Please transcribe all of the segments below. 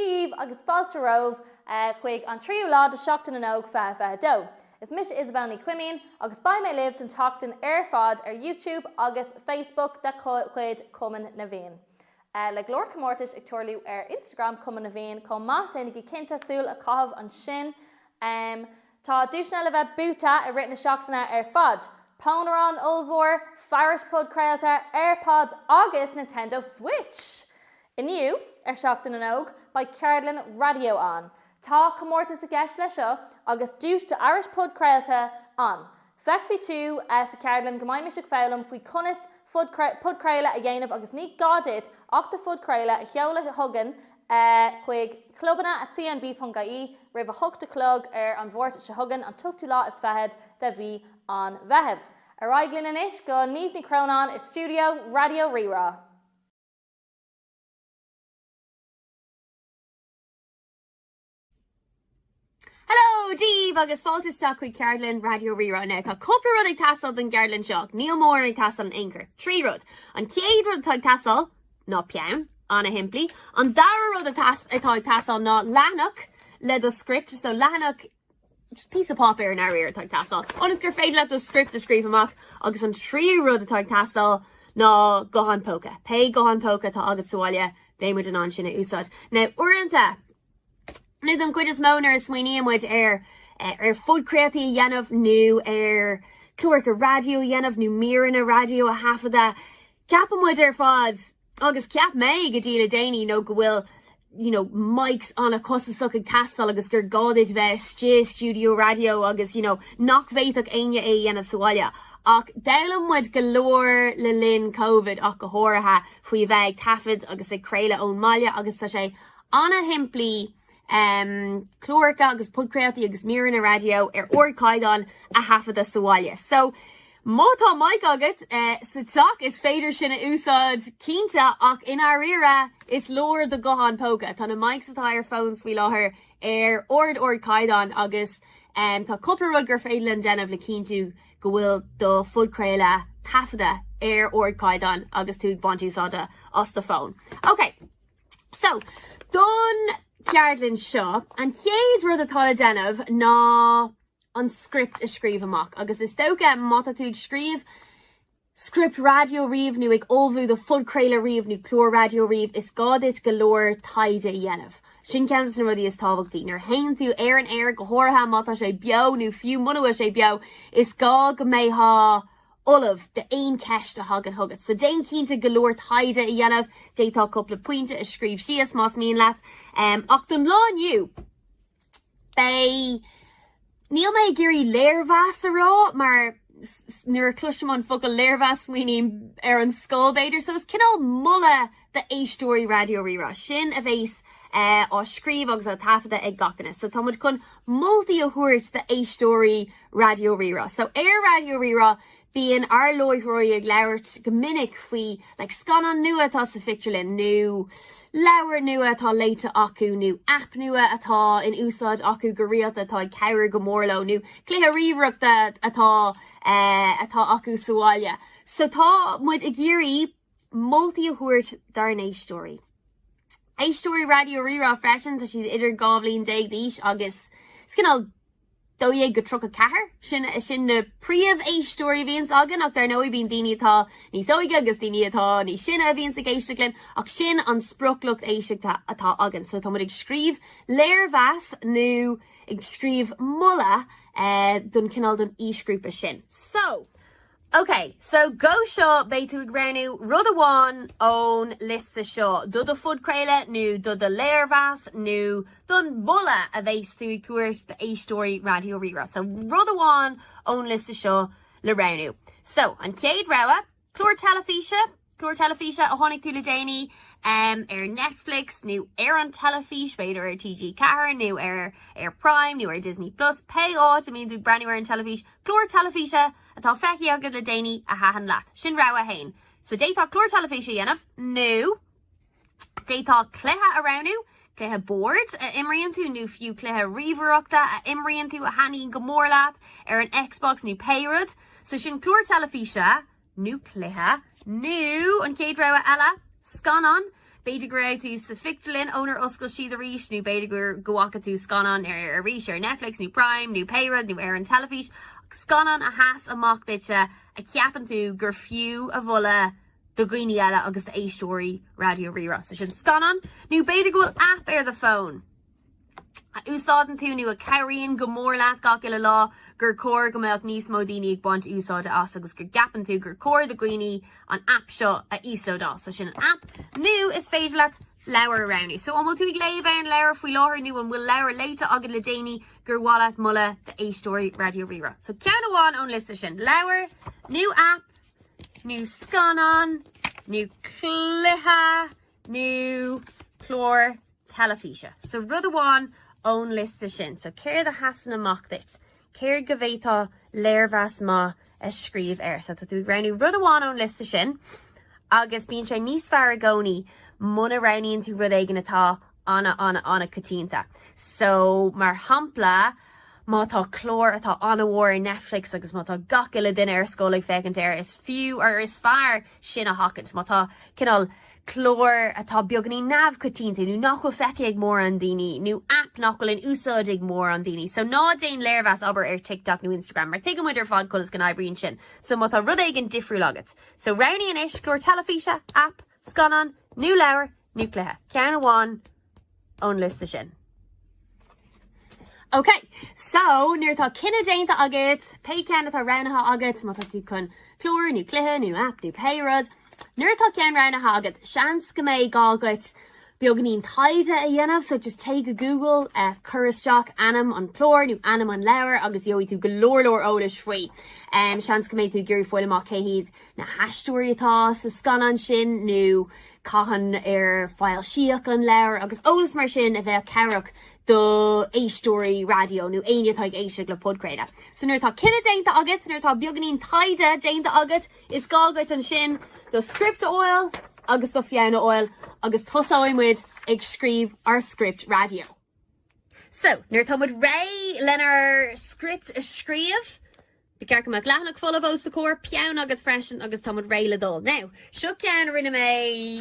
Daoibh agus fáilte romhaibh chuig an tríú lá de Sheachtain na nÓg 2022. Is mise Isabelle Ní Chuimín agus beidh mé libh don tseachtain ar fad ar YouTube agus Facebook de chuid Chumann na bhFiann. Le go leor comórtais ag tarlú ar Instagram Chumann na bhFiann chomh maith, déanaigí cinnte súil a chaitheamh ansin! Tá duaiseanna le bheith buaite i rith na seachtaine ar fad, pónarán ollmhór, fearais podchraolta, Airpods agus Nintendo Switch! Inniu, ar Seachtain na nÓg, beidh ceardlann raidió ann. Tá comórtas i gceist leis seo agus duais d'fhearais podchraolta ann. Feicfidh tú sa cheardlann go mbeimid ag foghlaim faoi conas podchraoladh a dhéanamh agus ní gá duit ach do phodchraoladh a sheoladh chugainn chuig clubanna at cnb ponc ie roimh a hocht a chlog ar an Máirt seo chugainn, an t-ochtú lá is fichead de mhí an Mheithimh. Ar aghaidh linn anois go Niamh Ní Chróinín i stiúideo Raidió Rí-Rá. Hello daoibh, agus fáilte isteach chuig ceardlann Raidió Rí-Rá inniu. Tá cúpla rud ag teastáil don gceardlann seo, níl móran ag teastáil in aon chor. Trí rud. An chéad rud atá ag teastáil ná peann, ana-shimplí. An dara rud atá ag teastáil ná leathanach le do script, so leathanach, just píosa páipéir i ndáiríre atá ag teastáil, ionas gur féidir leat do script a scríobh amach. Agus an tríú rud atá ag teastáil ná guthán póca. Pé guthán póca atá agat sa bhaile, beidh muid in ann sin a úsáid. Now, uaireanta, nó don gcuid is mó nuair a smaoiníonn muid ar ar phodchraoltaí a dhéanamh nó ar cláracha raidió a dhéanamh nó míreanna raidió a thaifeadadh, ceapann muid ar fad, agus cheap mé go dtí le déanaí, nó go bhfuil you know mics an-chostasach ag teastáil agus gur gá duit bheith istigh i stiúideo raidió agus you know nach bhféadfadh éinne é a dhéanamh sa bhaile. Ach d'fhoghlaim muid go leor le linn Covid ach go háirithe faoi bheith ag taifead agus ag craoladh ón mbaile agus tá sé ana-shimplí, cláracha agus podchraoltaí agus míreanna raidió ar ardchaighdeán a thaifeadadh sa bhaile. So, má tá mic agat sa teach, is féidir sin a úsáid, cinnte, ach i ndáiríre, is leor do ghuthán póca. Tá na mics atá ar phones faoi láthair ar ard-ardchaighdeán agus tá cúpla rud gur féidir linn déanamh le cinntiú go bhfuil do phodchraoladh taifeadta ar ardchaighdeán agus tú ag baint úsáide as do phone. OK. So, don cheardlann seo, an chéad rud atá le déanamh ná an script a scríobh amach, agus is dócha má tá tú ag scríobh script raidió riamh nó ag ullmhú do phodchraoladh riamh nó clár raidió riamh, is gá duit go leor taighde a dhéanamh. Sin ceann de na rudaí is tábhachtaí. Nuair a théann tú ar an aer, go háirithe má tá sé beo nó fiú muna bhfuil sé beo, is gá go mbeifeá ullamh d'aon cheist a thagann chugat. So déan cinnte go leor taighde a dhéanamh, d'fhéadfá cúpla pointe a scríobh síos más mian leat. Ach don lá inniu, beidh, níl mé ag iarraidh léirmheas a rá mar nuair a cloisim an focal léirmheas smaoiním ar an scoil b'fhéidir, so is cineál moladh, d'éisteoirí Raidió Rí-Rá sin a bheas á scríobh agus á taifeadadh ag gach duine. So tá muid chun moltaí a thabhairt d'éisteoirí Raidió Rí-Rá. So ar Raidió Rí-Rá bíonn ár láithreoirí ag labhairt go minic faoi like scannán nua atá sa phictiúrlann nó leabhar nua atá léite acu nó aip nua atá in úsáid acu go rialta atá ag cabhrú go mór leo nó cluiche ríomhaireachta atá atá acu sa bhaile. So tá muid ag iarraidh moltaí a thabhairt dár n-éisteoirí. Éisteoirí Raidió Rí-Rá freisin, tá siad idir dhá bhliain déag d'aois agus cineál dó dhéag go tríocha ceathair, sin na príomh-éisteoirí a bhíonns againn ach dar ndóigh bíonn daoine atá níos óige agus daoine atá níos sine a bhíonns ag éisteacht linn ach sin an sprioclucht éisteachta atá againn. So tá muid ag scríobh léirmheas nó ag scríobh moladh don cineál don aoisghrúpa sin. So OK, so go seo, beidh tú ag roghnú rud amháin ón liosta seo do do phodchraoladh nó do do léirmheas nó don mholadh a bheas tú ag tabhairt d'éisteoirí Raidió Rí-Rá. So rud amháin ón liosta seo le roghnú. So, an chéad rogha, clár teilifíse, Clár teilifíse a chonaic tú le déanaí ar Netflix nó ar an teilifís, b'fhéidir ar TG4 nó ar ar Prime nó ar Disney Plus, pé áit a mbíonn tú ag breathnú ar an teilifís, clár teilifíse atá feicthe agat le déanaí a thaitin leat. Sin rogha 1. So d'fhéadfá clár teilifís a dhéanamh nó d'fhéadfá cluiche a roghnú, cluiche boird a imríonn tú nó fiú cluiche ríomhaireachta a imríonn tú a thaitníonn go mór leat ar an Xbox nó pé rud. So sin clár teilifíse nó cluiche, nó an chéad rogha eile, scannán. B'fhéidir go raibh tú sa phictiúrlann ónar oscail siad arís, nó b'fhéidir go bhfaca tú scannán arís ar Netflix nó Prime nó pé rud nó ar an teilifís, ach scannán a sheas amach duitse a cheapann tú gur fiú a mholadh do dhaoine eile agus d'éisteoirí Raidió Rí-Rá. So sin scannán. Nó b'fhéidir go bhfuil app ar do phone. a úsáideann tú nó a chabhraíonn go mór leat gach uile lá, gur chóir go mbeadh níos mó daoine ag baint úsáide as agus go gceapann tú gur chóir do dhaoine an aip seo a íoslódáil. So sin an aip. Nó is féidir leat leabhar a roghnú. So an bhfuil tú ag léamh aon leabhar faoi láthair nó an bhfuil leabhar léite agat le déanaí gur mhaith leat moladh d'éisteoirí Raidió Rí-Rá. So ceann amháin ón liosta sin, leabhar, nó aip, nó scannán, nó cluiche, nó clár teilifíse. So rud amháin ón liosta sin. So céard a sheasann amach duit? Céard go bhféadfá léirmheas maith a scríobh air? So tá tú ag roghnú rud amháin ón liosta sin agus bíonn sé níos fearr i gcónaí muna roghnaíonn tú rud éigin atá ana, ana, ana coitianta. So mar shampla, má tá clár atá ana-mhór ar Netflix agus má tá gach uile duine ar scoil ag féachaint air, is fiú, or is fearr, sin a sheachaint. Má tá cineál cláir atá beagainín neamhchoitianta nó nach bhfuil feicthe ag mórán daoine nó aip nach bhfuil in úsáid ag mórán daoine so ná déan léirmheas abair ar TikTok nó Instagram mar tuigeann muid ar fad conas go n-oibríonn sin so má tá rud éigin difriúil agat. So roghnaigh anois, clár teilifíse, aip, scannán nó leabhar nó cluiche. Ceann amháin. ón liosta sin. OK, so nuair atá cinneadh déanta agat, pé ceann atá roghnaithe agat, má tá tú chun clár nó cluiche nó app nó pé rud, nuair atá ceann roghnaithe agat, seans go mbeidh gá dhuit beagainín taighde a dhéanamh, so just téigh go Google, cuir isteach ainm an chlár nó ainm an leabhar agus gheobhaidh tú go leor leor eolais faoi. Seans go mbeidh tú ag iarraidh fáil amach cé hiad na haisteoirí atá sa scannán sin nó cathain ar foilsíodh an leabhar agus eolas mar sin a bheadh cabhrach do éisteoirí raidió nó éinne atá ag éisteacht le podchraoladh. So nuair atá cinneadh déanta agat, nuair atá beagainín taighde déanta agat, is gá duit ansin do script a fháil agus do pheann a fháil agus tosóidh muid ag scríobh ár script raidió. So, nuair atá muid reidh lenár script a scríobh, beidh ceann amach leathanach folamh os do chomhair, peann agat freisin agus táimid réidh le dul. Now, seo ceann a rinne mé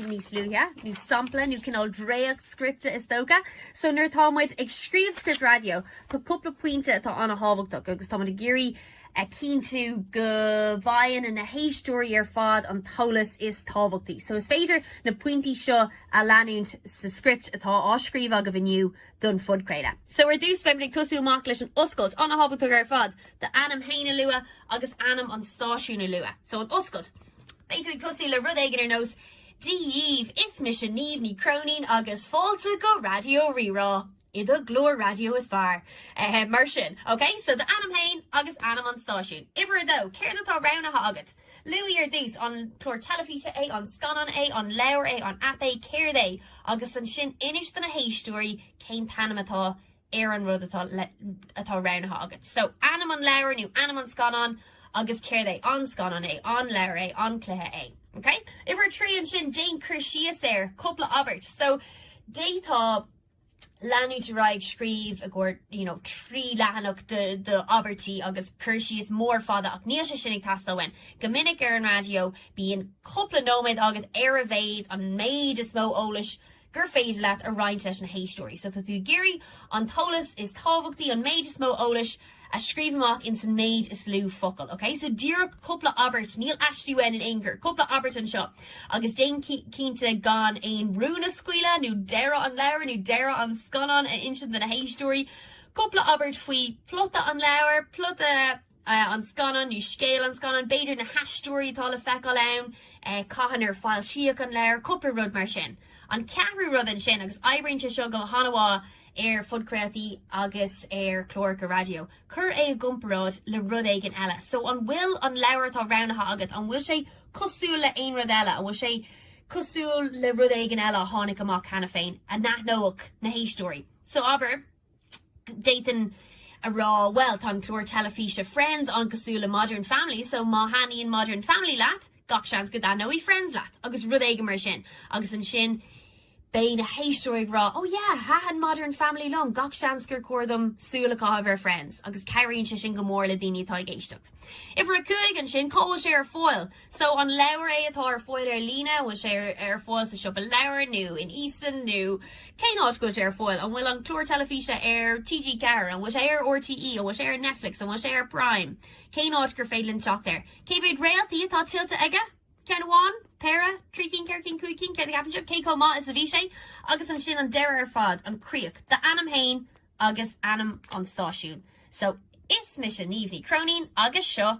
níos luaithe, nó sampla nó cineál dréacht scripte is dócha. So nuair atá muid ag scríobh script raidió, tá cúpla pointe atá an-tábhachtach agus táimid ag iarraidh a chinntiú go bhfaigheann na héisteoirí ar fad an t-eolas is tábhachtaí. So is féidir na pointí seo a leanúint sa script atá á scríobh agaibh inniu don phodchraoladh. So ar dtús beimid ag tosú amach leis an oscailt, an-tábhachtach ar fad. d'ainm féin a lua agus ainm an stáisiúin a lua. So an oscailt. Beidh tú ag tosú le rud éigin ar nós Dia dhaoibh, is mise Niamh Ní Chróinín agus fáilte go Raidió Rí-Rá, do chlár raidió is fearr. Mar sin. OK? So d'ainm féin agus ainm an stáisiúin. Uimhir a dó, céard atá roghnaithe agat? Luaigh ar dtús, an clár teilifíse é, an scannán é, an leabhar é, an aip é, céard é? Agus ansin inis do na héisteoirí cén t-ainm atá ar an rud atá roghnaithe agat. So, ainm an leabhair nó ainm an scannáin agus céard é, an scannán é, an leabhar é, an cluiche é. Ok? Uimhir trí ansin, déan cur síos air, cúpla abairt. So, d'fhéadfá leanúint ar aghaidh ag scríobh i gcomhair, you know, trí leathanach d'abairtí agus cur síos mór fada ach níl sé sin ag teastáil uainn. Go minic ar an raidió bíonn cúpla nóiméad agat ar a mhéad, an méid is mó eolais, gur féidir leat a roinnt leis na héisteoirí so tá tú ag iarraidh an t-eolas is tábhachtaí, an méid is mó eolais a scríobh amach in san méid is lú focal, ok? So díreach cúpla abairt, níl aistí uainn in aon chor, cúpla abairt anseo agus déan cinnte gan aon rún a scaoileadh nó deireadh an leabhair nó deireadh an scannáin a insint do na héisteoirí, cúpla abairt faoi phlota an leabhair, plota. an scannán, nó scéal an scannán, b'fhéidir, na haisteoirí atá le feiceáil ann, cathain ar foilsíodh an leabhar, cúpla rud mar sin. An ceathrú rud ansin, agus oibríonn sé seo go han-mhaith ar phodchraoltaí agus ar chláracha raidió, cuir é i gcomparáid le rud éigin eile. So, an bhfuil an leabhar atá roghnaithe agat, an bhfuil sé cosúil le haon rud eile, an bhfuil sé cosúil le rud éigin eile a tháinig amach cheana féin, a n-aithneodh na héisteoirí? So, abair. D'fhéadfainn a rá, bhuel, tá an clár teilifíse Friends an-cosúil le Modern Family, so má thaitníonn Modern Family leat, gach seans go dtaitneoidh Friends leat, agus rud éigin mar sin. Agus ansin beidh na héisteoirí ag rá, oh yeah, thaitin Modern Family liom, gach seans gur chóir dom súil a chaitheamh ar Friends, agus cabhraíonn sé sin go mór le daoine atá ag éisteacht. Uimhir a cúig ansin, cá bhfuil sé ar fáil? So, an leabhar é atá ar fáil ar líne? An bhfuil sé ar fáil sa siopa leabhar nó in Eason nó cén áit go bhfuil sé ar fáil? An bhfuil an clár teilifíse ar TG4? An bhfuil sé ar RTE? An bhfuil sé ar Netflix? An bhfuil sé ar Prime? Cén áit gur féidir linn teacht air? Cé mhéad réaltaí atá tuillte aige? Ceann amháin? Péire? Trí cinn? Ceithre cinn? Cúig cinn? Céard a cheapann sibh? Cé chomh maith is a bhí sé? Agus ansin an deireadh ar fad, an chríoch, d'ainm féin agus ainm an stáisiúin. So, is mise Niamh Ní Chróinín agus seo.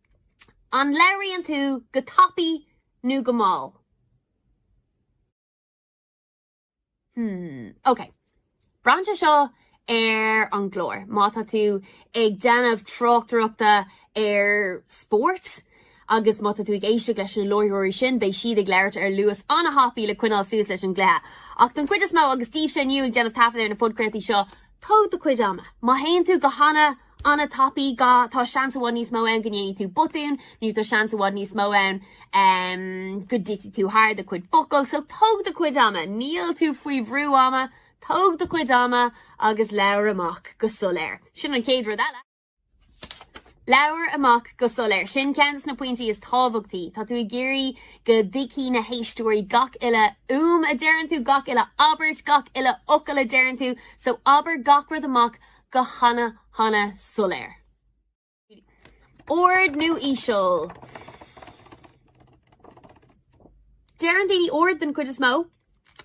An labhraíonn tú go tapaidh nó go mall? Hmm, ok. Braitheann sé seo ar an gclár. Má tá tú ag déanamh tráchtaireachta ar spórt agus má tá tú ag éisteacht leis na láithreoirí sin, beidh siad ag labhairt ar luas an-thapaidh le coinneáil suas leis an gcluiche. Ach don chuid is mó, agus daoibhse inniu ag déanamh taifead ar na podchraoltaí seo, tóg do chuid ama. Má théann tú go hana. an-tapaidh, ga, Tá seans i bhfad níos mó ann go ndéanfaidh tú botún, nó tá seans i bhfad níos mó ann go dtitfidh tú thar do chuid focal. So tóg do chuid ama, níl tú faoi bhrú ama, tóg do chuid ama agus labhair amach go soiléir. Sin an chéad rud eile. Labhair amach go soiléir. Sin ceann de na pointí is tábhachtaí. Tá tú ag iarraidh go dtuigfidh na héisteoirí gach uile fhuaim a deireann tú, gach uile abairt, gach uile fhocal a deireann tú. So abair gach rud amach go hana-hana soiléir. Ard nó íseal? Deireann daoine ard den gcuid is mó.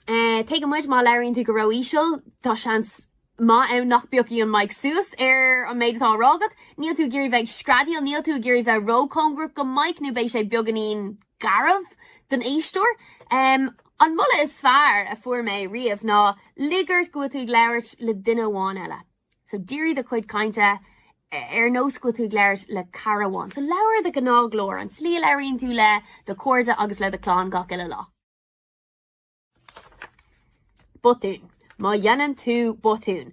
Tuigeann muid má labhraíonn tú go ró-íseal, tá seans maith ann nach bpiocfaidh an mic suas ar an méid atá á rá agat. Níl tú ag iarraidh bheith ag screadaíl, níl tú ag iarraidh bheith ró-chóngarach don mic nó beidh sé beagáinín. garbh don éisteoir. An moladh is fearr a fuair mé riamh ná, lig ort go bhfuil tú ag labhairt le duine amháin eile. So dírigh do chuid cainte ar nós go bhfuil tú ag labhairt le cara amháin. So labhair i do ghnáthghlór, an tslí a labhraíonn tú le do chairde agus le do chlann gach uile lá. Botúin. Má dhéanann tú botún.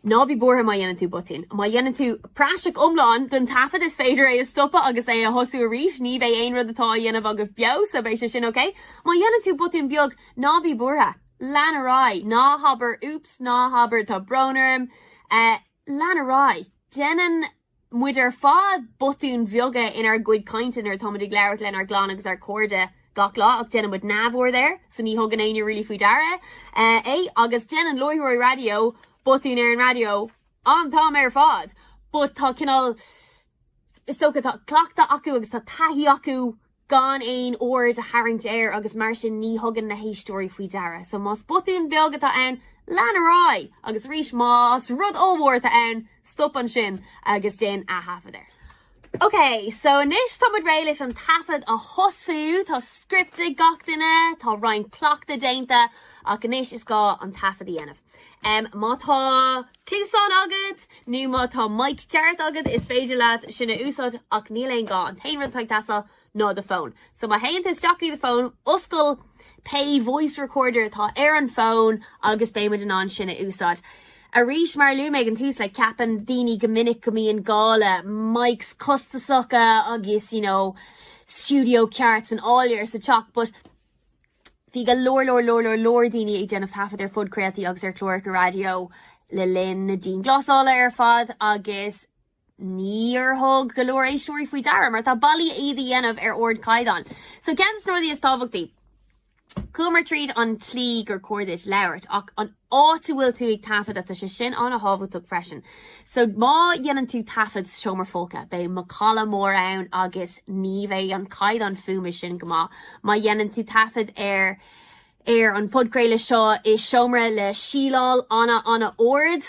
Ná bí buartha má dhéanann tú botún. Má dhéanann tú praiseach iomlán den taifead is féidir é a stopadh agus é a thosú arís. Ní bheidh aon rud atá á dhéanamh agaibh beo, so beidh sé sin ok. Má dhéanann tú botún beag, ná bí buartha. Lean ar aghaidh. Ná habair oops, ná habair tá brón orm. Eh. lean ar aghaidh. Déanann muid ar fad botúin bheaga inár gcuid cainte nuair atá muid ag labhairt lenár gclann agus ár gcairde gach lá ach déanann muid neamhaird air so ní thugann éinne really faoi deara é. Agus déanann láithreoirí raidió botúin ar an raidió an t-am ar fad but tá cineál, is dócha, tá cleachtadh acu agus tá taithí acu gan aon aird a tharraingt air agus mar sin ní thugann na héisteoirí faoi deara. So más botún beag atá ann, lean ar aghaidh agus arís más rud ollmhór atá ann, stop ansin agus déan ath-thaifead air. Ok, so anois tá muid réidh leis an taifead a thosú, tá script ag gach duine, tá roinnt cleachtadh déanta, ach anois is gá an taifead a dhéanamh. Má tá cluasáin agat, nó má tá mic ceart agat, is féidir leat sin a úsáid, ach níl aon gá, an t-aon rud atá ag teastáil ná do fón. So má théann tú isteach i do fón, oscail pé voice recorder atá ar an fón agus beidh muid in ann sin a úsáid. Arís, mar a luaigh mé ag an tús, like, ceapann daoine go minic go mbíonn gá le mics costasacha agus, you know, stiúideo ceart san áiléar sa teach, but Bhí go leor leor leor leor leor daoine ag déanamh taifead ar phodchraoltaí agus ar chláracha raidió le linn na dianghlasála ar fad agus níor thug go leor éisteoirí faoi deara mar tá bealaí iad a dhéanamh ar ardchaighdeán. So ceann de na rudaí is tábhachtaí, Chuamar tríd an tslí gur cóir duit labhairt ach an áit a bhfuil tú ag taifeadadh, tá sé sin an-thábhachtach freisin. So má dhéanann tú taifead sa seomra folctha, beidh macalla mór ann agus ní bheidh an caighdeán fuaime sin go maith. Má dhéanann tú taifead ar ar an phodchraoladh seo i seomra le síleáil an-an-ard,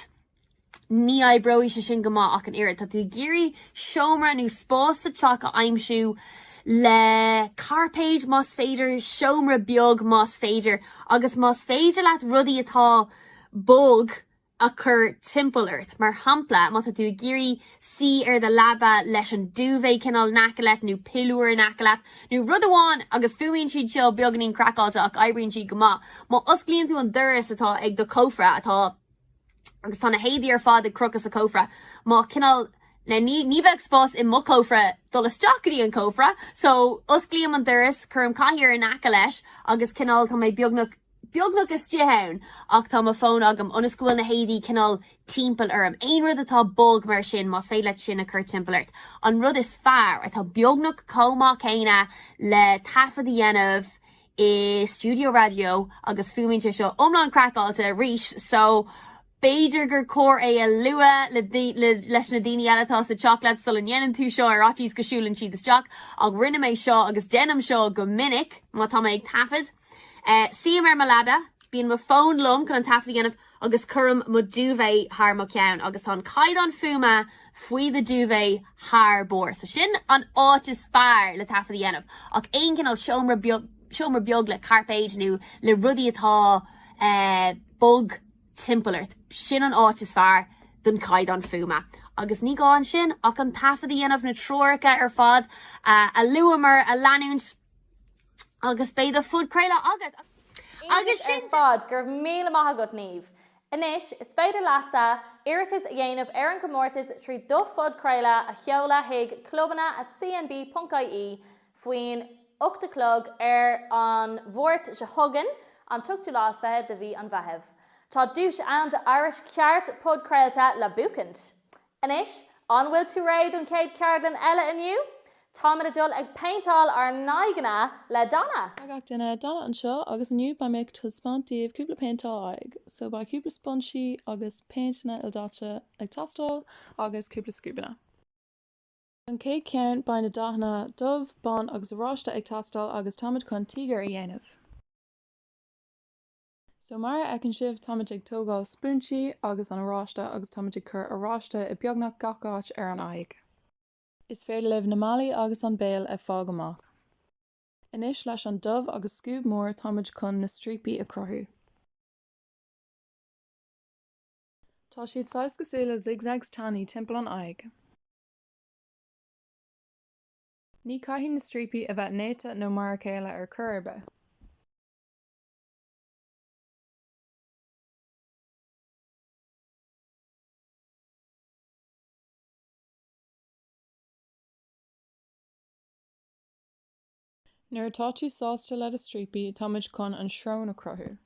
Ní oibreoidh sé sin go maith ach an oiread. Tá tú ag iarraidh seomra nó spás sa teach a aimsiú le cairpéid más féidir, seomra beag más féidir, agus más féidir leat rudaí atá bog a chur timpeall ort. Mar shampla, má tá tú ag iarraidh suí ar do leaba leis an duvet cineál in aice leat nó piliúr in aice leat nó rud amháin, agus fuaimíonn siad seo beagainín craiceáilte ach oibríonn siad go maith, má osclaíonn tú an doras atá ag do chófra atá. Agus tá na héadaí ar fad ag crochadh sa chófra. Má cineál. Now ní ní bheadh spás i mo chófra dul isteach go dtí an cófra, so osclaím an doras, cuirim cathaoir in aice leis agus cineál tá mé beagnach beagnach istigh ann ach tá mo fón agam ionas go bhfuil na héadaí cineál timpeall orm. Aon rud atá bog mar sin, más féidir leat sin a chur timpeall ort. An rud is fearr, atá beagnach chomh maith céanna le taifead a dhéanamh i stiúideo raidió agus fuaimíonn sé seo iomlán craiceáilte arís so b'fhéidir gur chóir é a lua le leis na daoine eile atá sa teach leat sula ndéanann tú seo ar fhaitíos go siúlann siad isteach ach rinne mé seo agus déanaim seo go minic má tá mé ag taifead suím ar mo leaba bíonn mo fón liom chun an taifead a dhéanamh agus cuirim mo duvet thar mo cheann agus tá an caighdeán fuaime faoin duvet thar barr so sin an áit is fearr le taifead a dhéanamh ach aon cineál seomra beag le cairpéid nó le rudaí atá eh bog timpeall ort sin an áit is fearr don caighdeán fuaime agus ní gá ansin ach an taifead a dhéanamh na treoracha ar fad a luamar a leanúint Agus beidh do phodchraoladh agat! Agus sin ar fad, go raibh míle maith agat Niamh! Anois, is féidir leatsa iarratas a dhéanamh ar an gcomórtas trí do phodchraoladh a sheoladh chuig clubanna at cnb ponc ie faoin 8 a chlog ar an Mháirt seo chugainn, an t-ochtú lá is fiche de mhí an Mheithimh. Tá duais ann d'fhearas ceart podchraolta le buachaint! Anois, an bhfuil tú réidh don chéad cheardlann eile inniu? Táimid ag dul ag péinteáil ár n-aghaidheanna le Donna. Hi gach duine Donna anseo agus inniu beidh mé ag taispeáint daoibh cúpla péinteáil aghaidhe. So, beidh cúpla sponsí agus péinteanna ildaite ag teastáil agus cúpla scuabanna. Don chéad cheann beidh na dathanna dubh, bán agus oráiste ag teastáil agus táimid chun tíogar a dhéanamh. So, mar a fheiceann sibh, táimid ag tógáil spúinse agus an oráiste agus táimid ag cur oráiste i beagnach gach áit ar an aghaidh. Is féidir libh na malaí agus an béal a fhágáil amach. Anois leis an dubh agus scuab mór táimid chun na stríocaí a chruthú. Tá siad saghas cosúil le zigzags tanaí timpeall an aghaidh. Ní caithfidh na stríocaí a bheith néata nó mar a chéile ar chor ar bith. Nuair atá tú sásta le do stríocaí, táimid chun an srón a chruthú.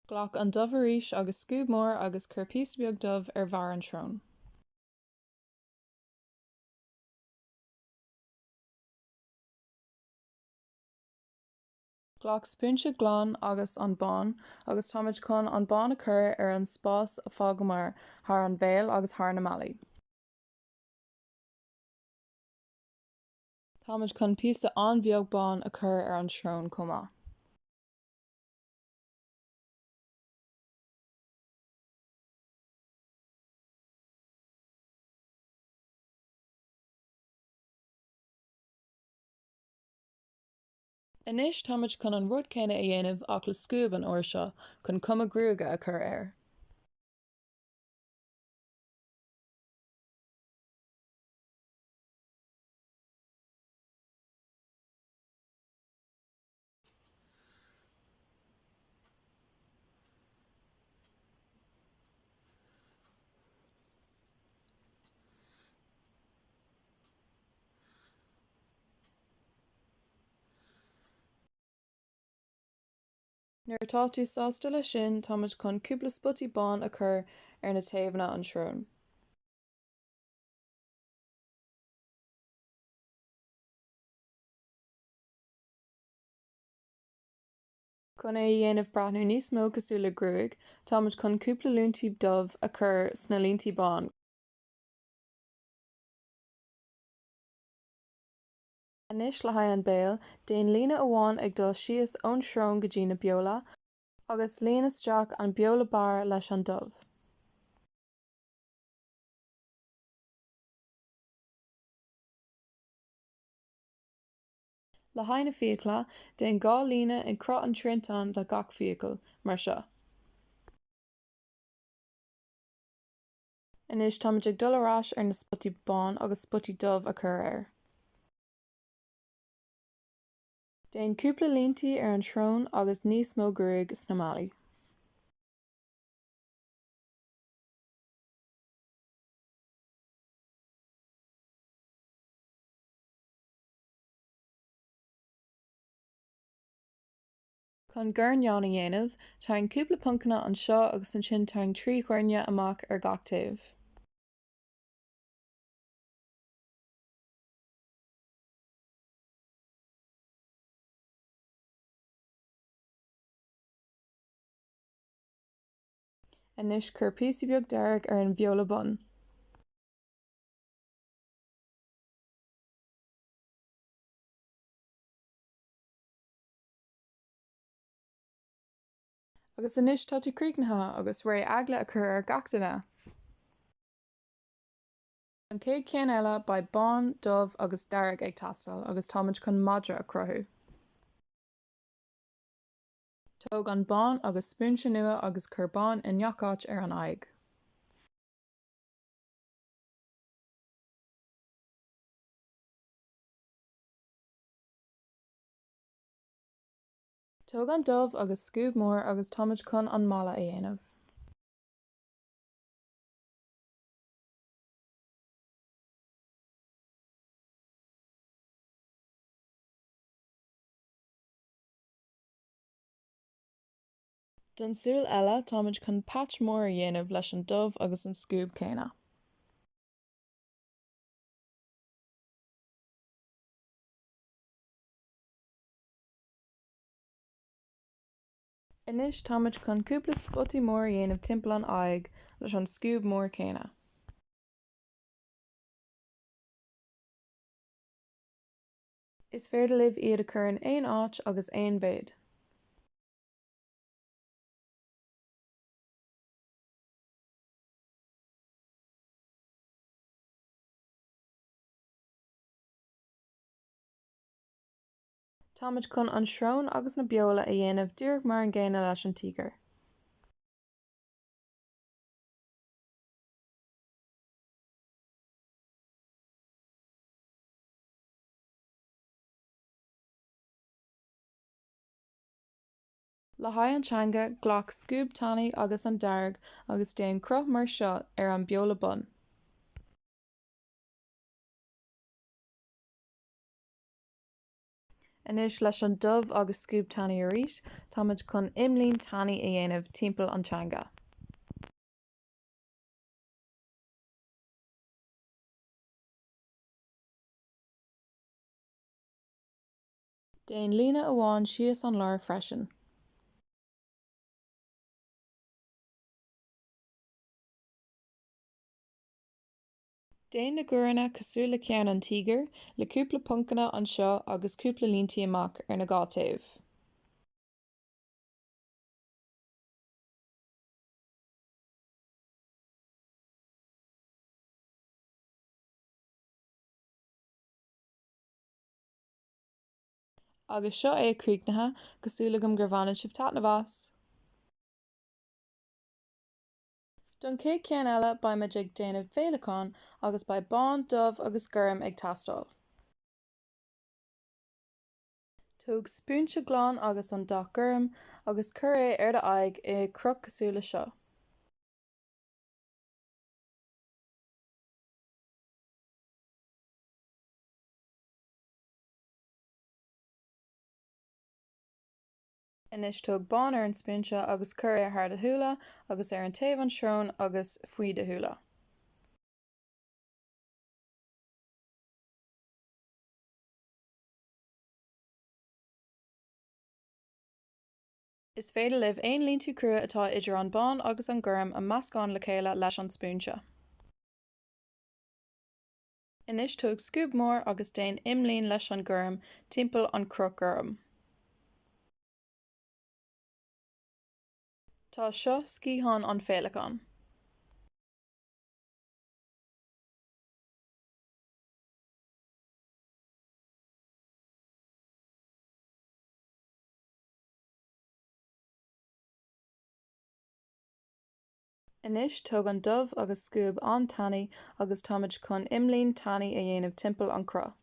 Glac an dubh arís agus scuab mór agus cuir píosa beag dubh ar bharr an srón. Glac spúinse glan agus an bán agus táimid chun an bán a chur ar an spás a d'fhágamar thar an bhéal agus thar na malaí. Táimid chun píosa an-bheag bán a chur ar an srón chomh maith. Anois táimid chun an rud céanna a dhéanamh ach le scuab an uair seo, chun cuma gruaige a chur air. Nuair atá tú sásta leis sin, táimid chun cúpla spotaí bán a chur ar na taobhanna an srón. Chun é a dhéanamh breathnú níos mó cosúil le gruaig, táimid chun cúpla líntí dubh a chur sna líntí bán. Anois le haghaidh an béal, déan líne amháin ag dul síos ón srón go dtí na beola, agus líon isteach an beola barr leis an dubh. Le haghaidh na fiacla, déan dhá líne ag cruth an triantáin do gach fiacail, mar seo. Anois táimid ag dul ar ais ar na spotaí bán agus spotaí dubh a chur air. Déan cúpla líntí ar an srón agus níos mó gruaig sna malaí. Chun guairní a dhéanamh, tarraing cúpla poncanna anseo agus ansin tarraing trí ghuairne amach ar gach taobh. Anois cuir píosa beag dearg ar an beola bun. Agus anois tá tú críochnaithe agus réidh eagla a chur ar gach duine. An chéad cheann eile, beidh bán, dubh agus dearg ag teastáil agus táimid chun madra a chruthú. Tóg an bán agus spúinse nua agus cuir bán i ngach áit ar an aghaidh. Tóg an dubh agus scuab mór agus táimid chun an mala a dhéanamh. Don súil eile táimid chun patch mór a dhéanamh leis an dubh agus an scuab céanna. Anois táimid chun cúpla spotaí mór a dhéanamh timpeall an aghaidh leis an scuab mór céanna. Is féidir libh iad a chur in aon áit agus aon mhéid. Táimid chun an srón agus na beola a dhéanamh díreach mar an gcéanna leis an tíogar. Le haghaidh an teanga, glac scuab tanaí agus an dearg agus déan cruth mar seo ar an bheola bun. Anois leis an dubh agus scuab tanaí arís, táimid chun imlíne tanaí a dhéanamh timpeall an teanga. Déan líne amháin síos an lár freisin. Déan na guaireanna cosúil le ceann an tíogair, le cúpla poncanna anseo agus cúpla líntí amach ar na dhá taobh. Agus seo é críochnaithe, tá súil agam gur bhaineann sibh taitneamh as! Don chéad ceann eile beidh muid ag déanamh féileacáin agus beidh bán, dubh agus gorm ag teastáil. Tóg spúinse glan agus an dath gorm agus cuir é ar do aghaidh i gcruth cosúil le seo. Anois tóg bán ar an spúinse agus cuir é thar do shúile agus ar an taobh an srón agus faoi do shúile. Is féidir libh aon líntí crua atá idir an bán agus an gorm a meascán le chéile leis an spúinse. Anois tóg scuab mór agus déan imlíne leis an gorm timpeall an cruth gorm. Tá seo sciathán an féileacán. Anois, tóg an dubh agus scuab an-tanaí agus táimid chun imlíne tanaí a dhéanamh timpeall an cruth.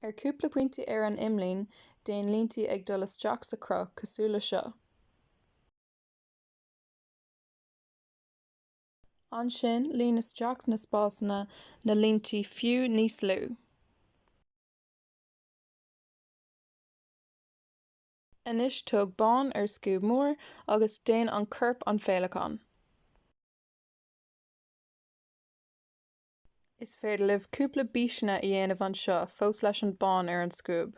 Ar cúpla pointí ar an imlíne, déan líntí ag dul isteach sa chruth, cosúil le seo. Ansin, líon isteach na spásanna le líntí fiú níos lú. Anois tóg bán ar scuab mór agus déan an chorp an féileacán. Is féidir libh cúpla bíseanna a dhéanamh anseo fós leis an bán ar an scuab.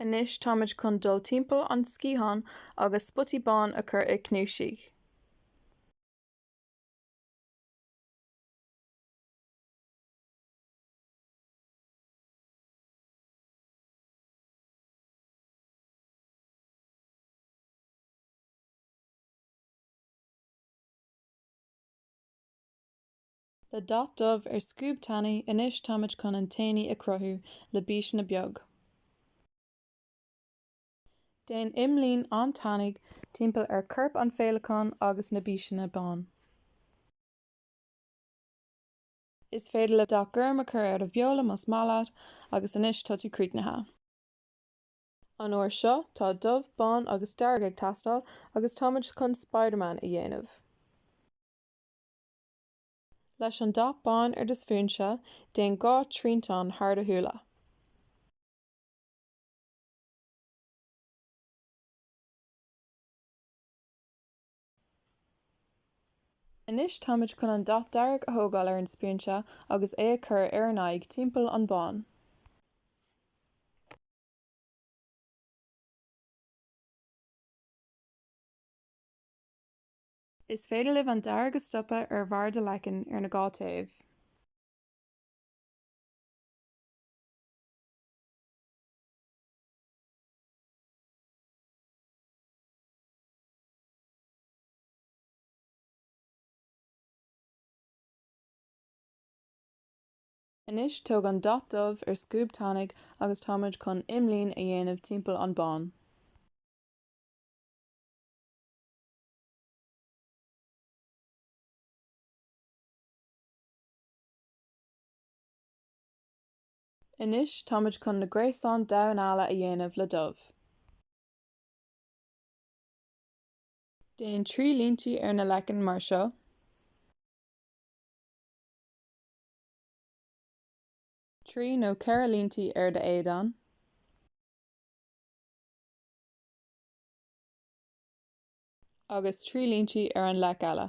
Anois táimid chun dul timpeall an sciathán agus spotaí bán a chur i gcnuasaigh. Le dath dubh ar scuab tanaí anois táimid chun antennae a chruthú le bíseanna beag. Déan imlíne an-tanaí timpeall ar chorp an féileacáin agus na bíseanna bán. Is féidir leat dath gorm a chur ar do bheola más maith leat agus anois tá tú críochnaithe. An uair seo tá dubh, bán agus dearg ag teastáil agus táimid chun Spiderman a dhéanamh. Leis an dath bán ar do spúinse, déan dhá triantán thar do shúile. Anois táimid chun an dath dearg a thógáil ar an spúinse agus é a chur ar an aghaidh timpeall an bán. Is féidir libh an dearg a stopadh ar bharr do leacain ar na dhá taobh. Anois tóg an dath dubh ar scuab tanaí agus táimid chun imlíne a dhéanamh timpeall an bán. Anois táimid chun na gréasáin damhán alla a dhéanamh le dubh. Déan trí líntí ar na leiceann mar seo. Trí nó ceithre líntí ar d'éadan. Agus trí líntí ar an leic eile.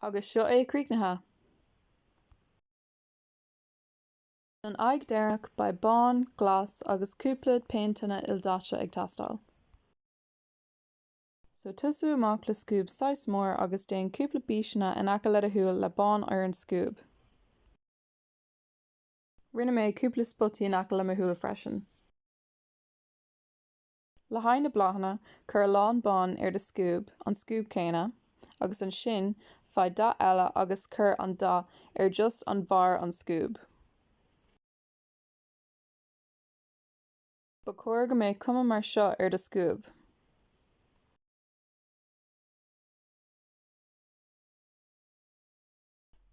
Agus seo é críochnaithe. Don aghaidh deireanach beidh bán, glas agus cúpla péinteanna ildaite ag teastáil. So tosú amach le scuab saghas mór agus déan cúpla bíseanna in aice le do shúil le bán ar an scuab. Rinne mé cúpla spotaí in aice le mo shúil freisin. Le haghaidh na bláthanna, cuir a lán bán ar do scuab, an scuab céanna, agus ansin faigh dath eile agus cuir an dath ar just an bharr an scuab. Ba chóir go mbeadh cuma mar seo ar do scuab.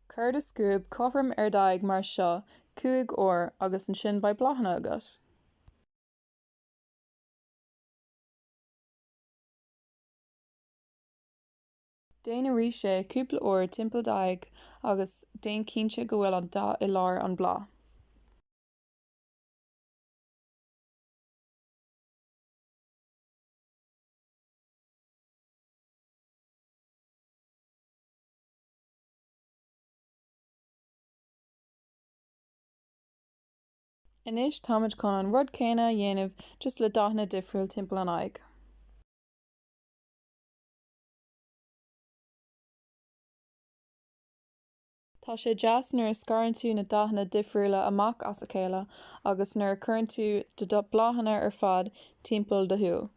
Cuir do scuab cothrom ar d'aghaidh mar seo cúig uair agus ansin beidh bláthanna agat. Déan arís é, cúpla uair, timpeall d'aghaidh, agus déan cinnte go bhfuil an dath i lár an bláth. Anois táimid chun an rud céanna a dhéanamh just le dathanna difriúil timpeall an aghaidh. Tá sé deas nuair a scarann tú na dathanna difriúla amach as a chéile agus nuair a cuireann tú do bláthanna ar fad timpeall do shúil.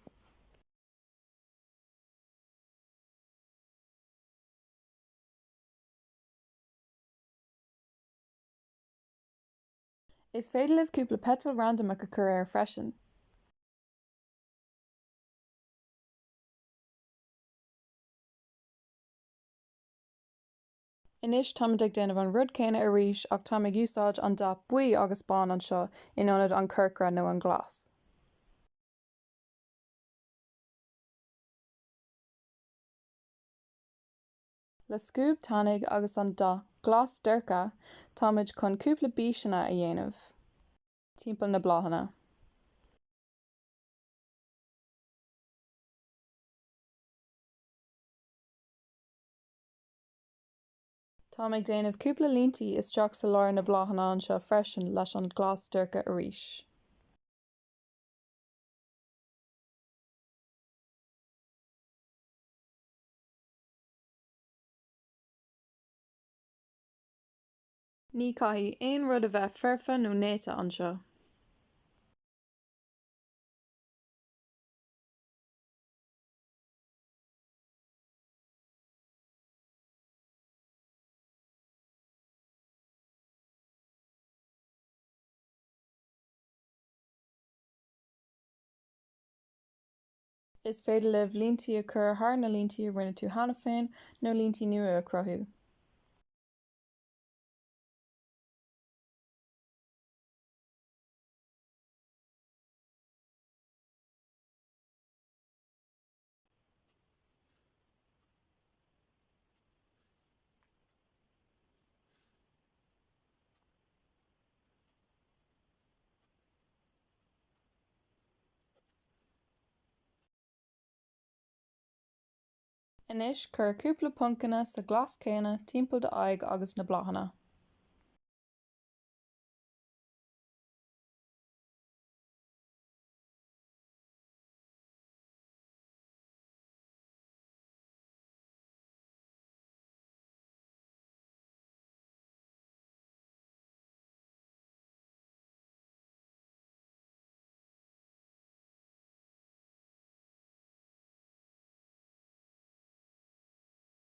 Is féidir libh cúpla peiteal randamach a cur air freisin. Anois, táimid ag déanamh an rud céanna arís ach táim ag úsáid an dath buí agus bán anseo in ionad an chorcra nó an glas. Le scuab tanaigh agus an dath glas dorcha táimid chun cúpla bíseanna a dhéanamh timpeall na bláthanna. Táim ag déanamh cúpla líntí isteach sa lár na bláthanna anseo freisin leis an glas dorcha arís. Ní chaithfidh aon rud a bheith foirfe nó néata anseo. Is féidir libh líntí a chur thar na líntí a rinne tú cheana féin, nó líntí nua a chruthú. Anois cuir cúpla poncanna sa ghlas céanna timpeall d'aghaidh agus na bláthanna.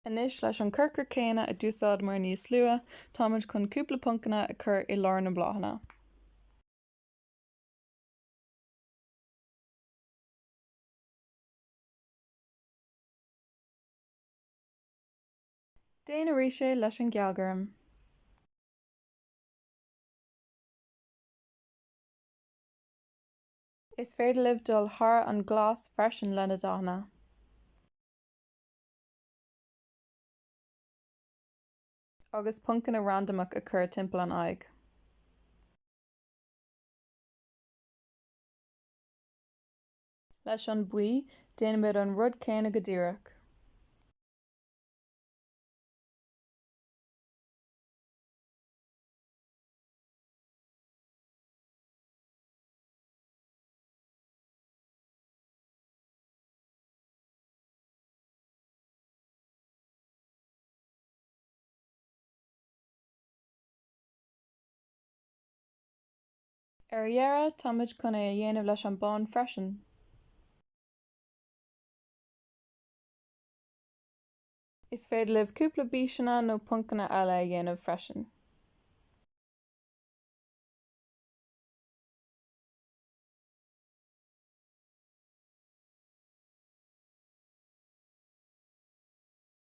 Anois, leis an corcra céanna a d'úsáideamar níos luath, táimid chun cúpla poncanna a chur i lár na mbláthanna. Déan arís é leis an ghealghorm. Is féidir libh dul thar an glas freisin leis na dathanna agus poncanna randamach a chur timpeall an aghaidh. Leis an buí, déanaimid an rud céanna go díreach. Ar dheireadh, táimid chun é a dhéanamh leis an bán freisin. Is féidir libh cúpla bíseanna nó poncanna eile a dhéanamh freisin.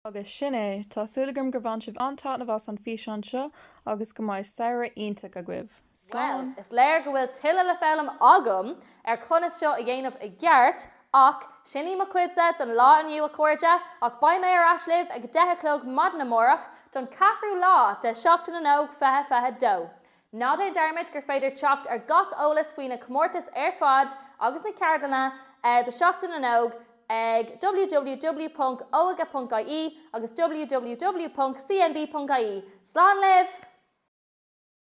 Agus sin é, tá súil agam gur bhain sibh an-taitneamh as an bhfíseán seo agus go mbeidh samhradh iontach agaibh! Bhuel, is léir go bhfuil tuilleadh le foghlaim agam ar conas seo a dhéanamh i gceart, ach sin í mo chuidse don lá inniu, a chairde, ach beidh mé ar ais libh ag a deich a chlog maidin amárach don cheathrú lá de Sheachtain na nÓg fiche fiche dó. Ná déan dearmad gur féidir teacht ar gach eolas faoi na comórtais ar fad agus na ceardlanna do Sheachtain na nÓg ag www.oige.ie agus www.cnb.ie. Slán libh!